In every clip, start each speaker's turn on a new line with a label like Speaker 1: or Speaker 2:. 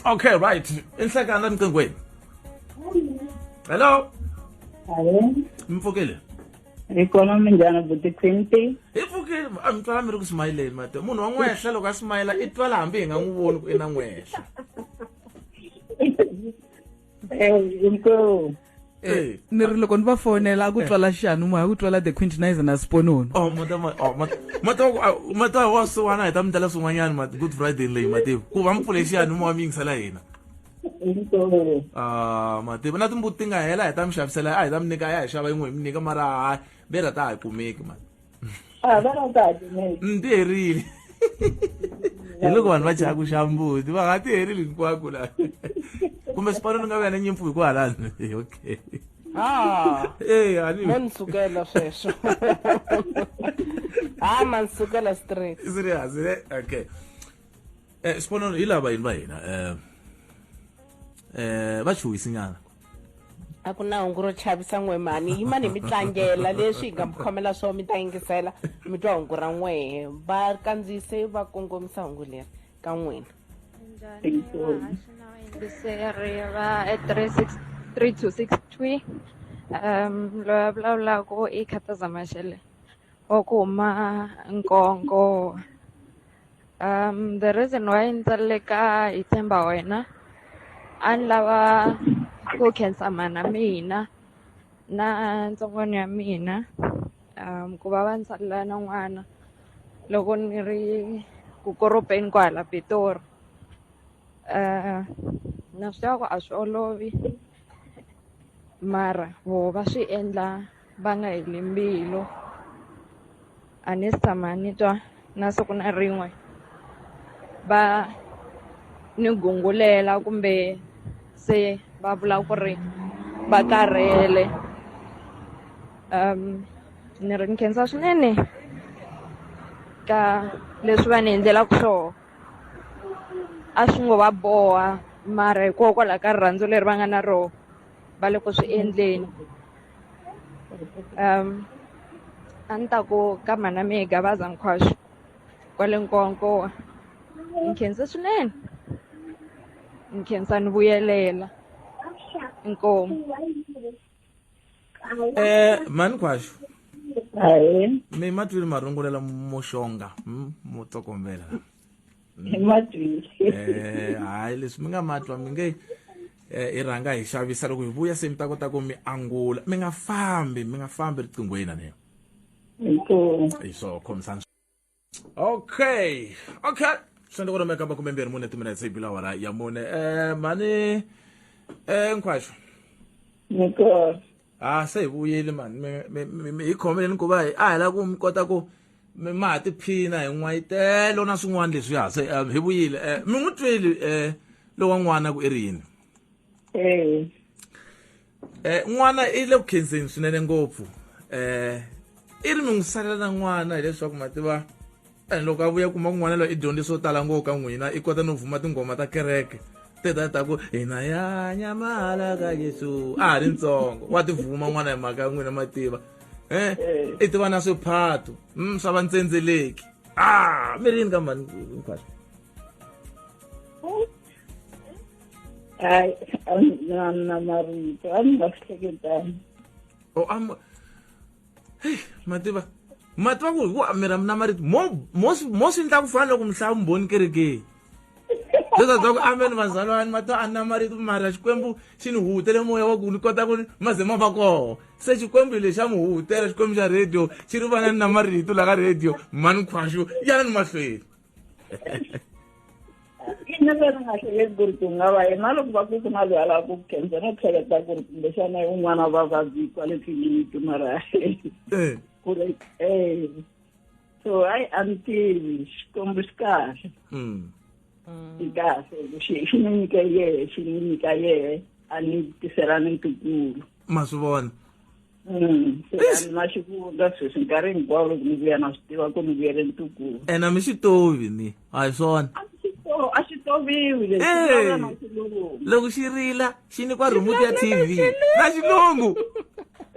Speaker 1: okay right inhlekani la niqingweni hello
Speaker 2: mfokile
Speaker 1: ikona
Speaker 2: minjhani buti quinty hi pfukile a mi
Speaker 1: twala mi ri ku smayileni mati munhu wa n'wehla loko a smayila i twala hambi hi nga n'wi voni ku i na n'wehla
Speaker 2: inkomu Eh, ni ri loko
Speaker 3: ni va fonela a ku twala xanu moya ku twala the quintinizer na siponono oh mata ma oh mata mata wa ku- ah,
Speaker 1: mata wa suwana hi ta mi tala swin'wanyana ma good friday leyi mativu ku va mi pfule xiyani mowa mi yingisela hina inkomu
Speaker 2: ah
Speaker 1: mativu na timbuti ti nga hela hi ta mi xavisela a hi ta mi nyika ya hi xava yin'we hi mi nyika mara hayi bera ta ha yi kumeki mani a va ra
Speaker 2: kahle ne ni ti herile
Speaker 1: hi loko vanhu va chaya ku xa mbuti va nga ti herili hinkwako la kumbe xipano ni nga va ya na nyimpfu hi ku halani okay
Speaker 4: Ah, Eh, ani- mo ni sukela sweswo ha ma ni sukela straight serious ne
Speaker 1: okay eh xiponono hi lava yini va hina eh eh va chuhisinyana a
Speaker 4: ku na hungu ro chavisa n'we mhani yima ni mi tlangela leswi hi nga mi khomela swo mi ta yingisela mi twa hungu ra n'wehe va kandziyise va kongomisa hungu leri ka n'wina njhani vahaxi na
Speaker 5: vayingiseri va three six three two six three um loyi a vulavulaka i khataza maxele wa ku huma nkongo Um, the reason why ni tsalele ka hi tshemba wena a ni lava ku khensa mana mina na ntsongwana ya mina um ku va va ni tsalela na n'wana loko ni ri ku koropeni kwahala pitori um na swi tiva ku a swi olovi mara voho va swi endla va nga heli mbilu a ni se tshama ni twa na siku na rin'we va ni gungulela kumbe se va vula ku ri va karhele ni ri ni khensa swinene ka leswi va ni endlelaku swoho a swi ngo va boha mara hikokwalaho ka rirhandzu leri va nga na roho va le ku swi endleni um a ni ta ku ka mhana mehe gabaza nkhwaxo kwale nkonkowa ni khensa swinene ni khensa ni vuyelela inkomu
Speaker 1: um eh, mhani khwaxo
Speaker 2: mi ma twile
Speaker 1: marungula la muxonga hmm, mo tsokombela hi ma twile Eh, hayi leswi mi nga ma twa mi nge eh, i rhanga hi xavisa loko hi vuya se mi ta kota ku mi angula mi nga fambi mi nga fambi riqinghweni na leyo inkomu hi swo khomisana okay okay swi endla ku ri mi kamba kumbe mbirhi mune timinetse yi bilawara ya mune um mhani um nkhwaxo
Speaker 2: inkomu ha ah,
Speaker 1: se hi vuyile mani hi khomeleni ku va hi a hi lava ku mi kota ku mi ma ha tiphina hi n'wayitelo na swin'wana leswi ha se eh, hi vuyile um mi n'wi tweli um eh, lowa n'wana ku i ri yini um n'wana i le ku khenseni swinene ngopfu um i ri mi n'wi salela na n'wana hileswaku ma tiva And loko a vuya kuma kun'wana loyi i dyondze swo tala ngopfu ka n'wina i kota no vuma tinghoma ta kereke teta ta ku hina ya nyamala ka yesu a ha ri ntsongo wa ti vuma n'wana hi mhaka ya n'wina mativa eh, eh. i tiva na swiphato mm, swa vantsendzeleki a ah, mi rini ka mani hinkwaswo hayi a ni na marito a ni
Speaker 2: nga swi hleketani o oh,
Speaker 1: mativa mativa ku hi ku amira mina ma ri mo swi ndla ku fana loko mi hlaya vumbhoni kerekeni leswa bya ku ameni vazalwani ma to a na marito mara xikwembu xi ni hutele moya wa ku ni kota ku ma ze ma va kona se xikwembu hi lexi a mi hutela xikwembu xa radio xi ri vanani na marito la ka radio mani khwaxo yanani mahlweni
Speaker 2: ina va ri nga hleketi ku ri ku nga va yena loko va ku ku na loyi a lava ku ku khensa no hleketa ku ri kumbexana i un'wana wa vavabyi kwale tliliniki mara eh. ku ri e so hayi a ni tivi xikwembu xi kahle hmm. xi kahle xi xi ni nyike yehe xi ni nyika yehe a ni tiselani ntukulu ma swi vona
Speaker 1: Mm,
Speaker 2: Eish. na xi vula sweswi nkarhi hinkwawo loko ni vuya na swi tiva ku ni vuyele ntukulu ena mi xi tovi
Speaker 1: mi a hi swona a xi to- a xi
Speaker 2: toviwi lexi Hey. vulavula na xilungu loko
Speaker 1: xi rila xi nikwa remote ya tv na xilungu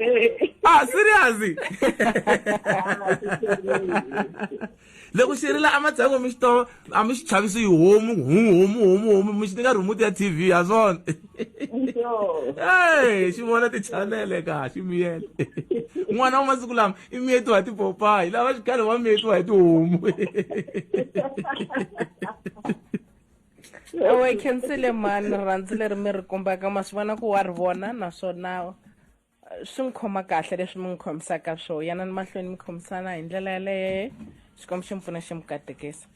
Speaker 1: Eh, ah serious ah, xi toviwi. loko xi rila a matsengo mi xi to a mi xi chavisi hi homu hu homu homu homu mi xi ni nga remote ya tv ha swona e xi vona tichanele ka xi miyele n'wana wa masiku lama i miyetiwa hi tipopayi lava xikhale va miyetiwa hi tihomu
Speaker 4: owe khensile mani rhandzi leri mi ri kombaka ma swi vona ku wa ri vona naswona swi n'wi khoma kahle leswi mi n'wi khomisaka swo yana ni mahlweni mi khomisana hi ndlela yaleye xikwembu xi mi pfuna xi mi katekisa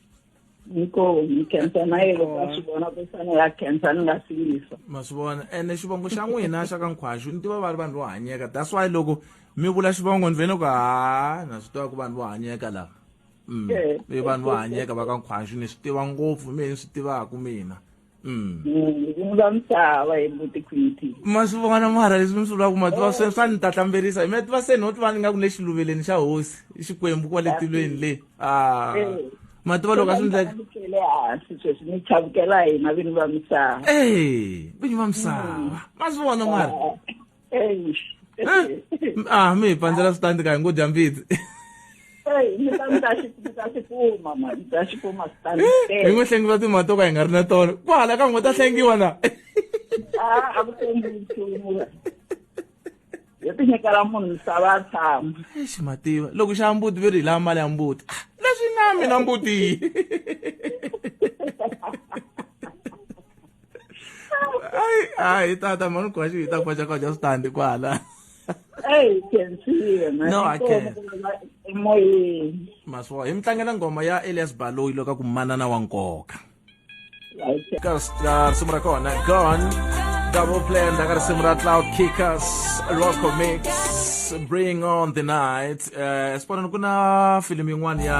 Speaker 4: inkomu
Speaker 2: khensa na yena ka swi vona ku fane ya khensa ni nga si yisa ma swi vona ene
Speaker 1: xivongo xa n'wina xa ka nkhwaxu ni tiva va ri vanhu vo hanyeka that's why loko mi vula xivongo ni vene ku ha na swi tiva ku vanhu vo hanyeka lava mm. i vanhu vo hanyeka va ka nkhwaxu ni swi tiva ngopfu mi ni swi tivaku mina Mm. Mm,
Speaker 2: ku nga misava hi mbuti quinty ma swi vona mara
Speaker 1: leswi mi swi vulaka ma tiva swe swa ni ta hlamberisa mi ya tiva se no tiva ni nga ku le xiluveleni xa hosi i xikwembu kwale tilweni le a Eh. ma tiva loko a swi ndleka
Speaker 2: Chavukele hansi sweswi ni chavukela hina vini va
Speaker 1: misava e vinyi va misava ma swi vona mara Eyi. ah mi hi pandzela switandi ka hi ngo dya mbitsi Eyi,
Speaker 2: mi ta mi ta xi mi ta xi kuma mani, mi ta xi kuma switandi. hi ngo hlengiwa
Speaker 1: timali to ka hi nga ri na tona ku hala ka ngo ta hlengiwa na Ah,
Speaker 2: a ku tshembi nchumu. Yo ti nyikela munhu misava a tshama. exi mativa
Speaker 1: loko xa mbuti ve ri hi lava mali ya mbuti Ah, leswi na mina mbuti hayi hayi tata mani ugwashi yi ta kwaxa kwaxa switandi kwala eyi kensiye
Speaker 2: no aken
Speaker 1: emoyeni
Speaker 2: maswo hi mi
Speaker 1: tlangela nghoma ya elias baloyi loko a ku manana wa nkoka ka risimu ra kona gon double plan la ka risimu ra cloud kickers local mix bring on the night um eh, sibonani ku na filimi yin'wana ya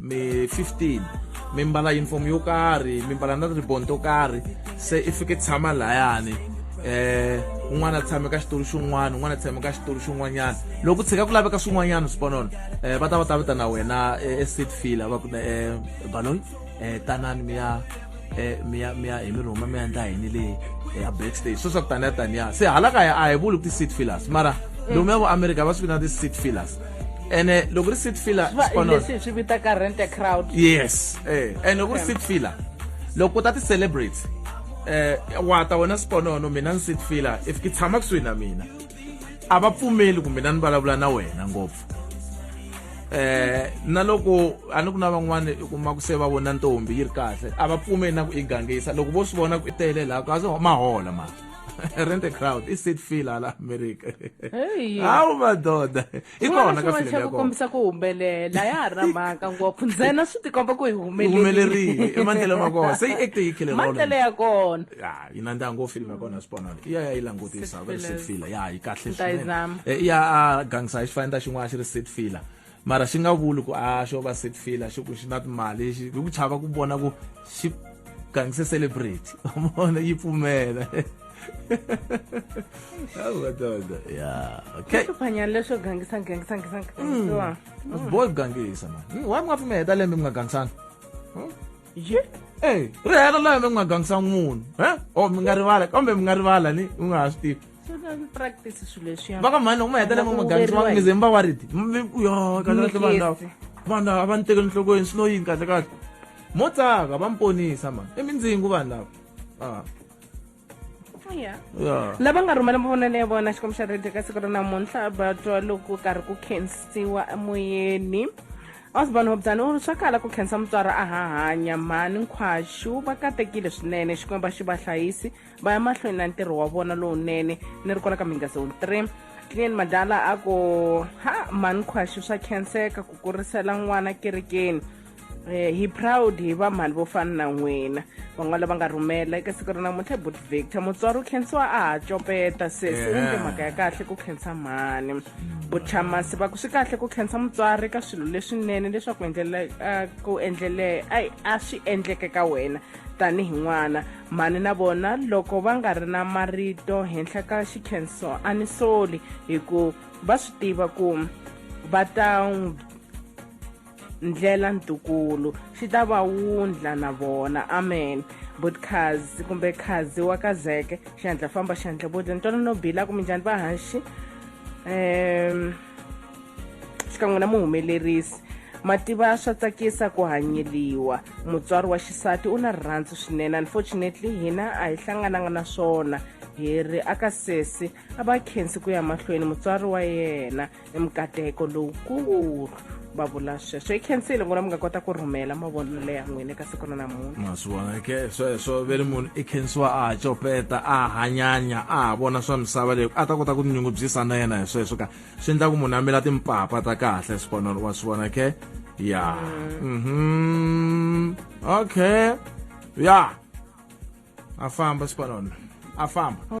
Speaker 1: mi 15 mi mbala uniform yo karhi mi mbala na ribbon to karhi se i fike tshama layani eh un'wana a tshame ka xitulu xin'wana un'wana a tshame ka xitulu xin'wanyana loko tshika ku laveka swin'wanyana swiponona um eh, va ta va ta vitana wena eh, eseat filler va ku um eh, baloyi eh tanani mi ya eh mi ya mi ya hi mi rhuma mi ya endla yini le ya backstage so swa ku taniya taniya se hala kaya a hi vuli ku ti-seat fillers mara lomu ya vo america va swi vina ti-seat fillers ene loko ri seat filler xipano- leswi hi swi vitaka
Speaker 4: rent a crowd yes
Speaker 1: eh and loko ri seat filler loko u ta ti celebrate eh wa ta wena siponono mina ni seat filler if ki tshama kusuhi na mina a va pfumeli ku mina ni vulavula na wena ngopfu eh na loko a ni ku na van'wana u kuma ku se va vona ntombi yi ri kahle a va pfumeli na ku yi gangisa loko vo swi vona ku i tele laha kasi ma hola ma rent a crowd i sit feel hala america hawu madoda i kona ka filele yako kombisa ku humbelela
Speaker 4: ya ha ri na mhaka ngopfu ntsena swi tikomba ku hi humelerile i
Speaker 1: mandlelo ma kona se yi acte yi khile rolo mandlelo ya kona
Speaker 4: ya yi nandziha ngopfu
Speaker 1: film ya kona swiponana i ya ya yi langutisa va ri Seat filler ya yi kahle Ni ta yi swinene zama. Eh, i ya
Speaker 4: a
Speaker 1: gangisa hi xifanindo xin'wana xi ri seat filler mara xi nga vuli ku a xo va seat filler xi ku xi na timali xi hi ku chava ku vona ku xi gangise celebrity mona yi pfumela Hawu, madoda. ya okay hluphanyana leswo gangisa
Speaker 4: gangisa gangisa
Speaker 1: gangisiwa boy ku gangisa mani why mi nga pfumela hi ta lembe mi nga gangisanga Hmm? ye e ri hela laha mi nga gangisa munhu e o mi nga rivala kambe mi nga rivala ni u nga ha swi tivi
Speaker 4: va ka mhani loko ma hetelela ma
Speaker 1: gangisa va ngize mi va wa riti yo kahlekahle vanhu lava vanhu lava va ni tekeli nhlokweni swi lo yini kahlekahle mo tsaka va mi ponisa mani i mindzingu vanhu lava a ah. oh, yeah. yeah.
Speaker 4: lava nga rhumela mavonelo ya vona xikwembu xa radio ka siku ra namuntlha vatwa loko karhi ku khensiwa emoyeni osborn hobzani u ri swa kala ku khensa mutswari a hahanya mhani nkhwaxu va katekile swinene xikwembu va xi va hlayisi va ya mahlweni na ntirho wa vona lowunene ni ri kona ka mhinga zone three clean madala a ku ha mhani nkhwaxu swa khenseka ku kurisela n'wana kerekeni Eh, hi proud hi vamhani vo fana na n'wina van'wana lava nga rhumela eka siku ra namuntlha but victor mutswari u khensiwa a ha copeta sesi u ndle mhaka ya kahle ku khensa mhani buchamasi va ku swi kahle ku khensa mutswari ka swilo leswinene leswaku endlela ku endlele ai a swi endleke ka wena tanihi n'wana mhani na vona loko va nga ri na marito henhla ka xikhenso a ni soli hi ku va swi tiva ku va ta ndlela ntukulu swi ta va wundla na vona amen but khazi kumbe khazi wa ka zeke xiandla famba xiandla bodla ntwana no bila kumbe njhani va haxi um xikan'we na muhumelerisi mativa swa tsakisa ku hanyeliwa mutswari wa xisati u na rirhandzu swinene unfortunately hina a hi hlangananga na swona hi ri aka sesi a va khensi ku ya mahlweni mutswari wa yena i mikateko lowukulu va vula sweswo yi khensile ngona mi nga kota ku rhumela mavonelo ya n'wina eka siku ra namuntlha ma swi vona ke
Speaker 1: sweswo ve ri munhu i khensiwa a ha copeta a ha hanyanya a ha vona swa misava leyi a ta kota ku tinyungubyisa na yena hi sweswo ka swi endla ku munhu a mila timpapa ta kahle sikonolo wa swi vona ke ya mhm okay ya a famba sikonolo a famba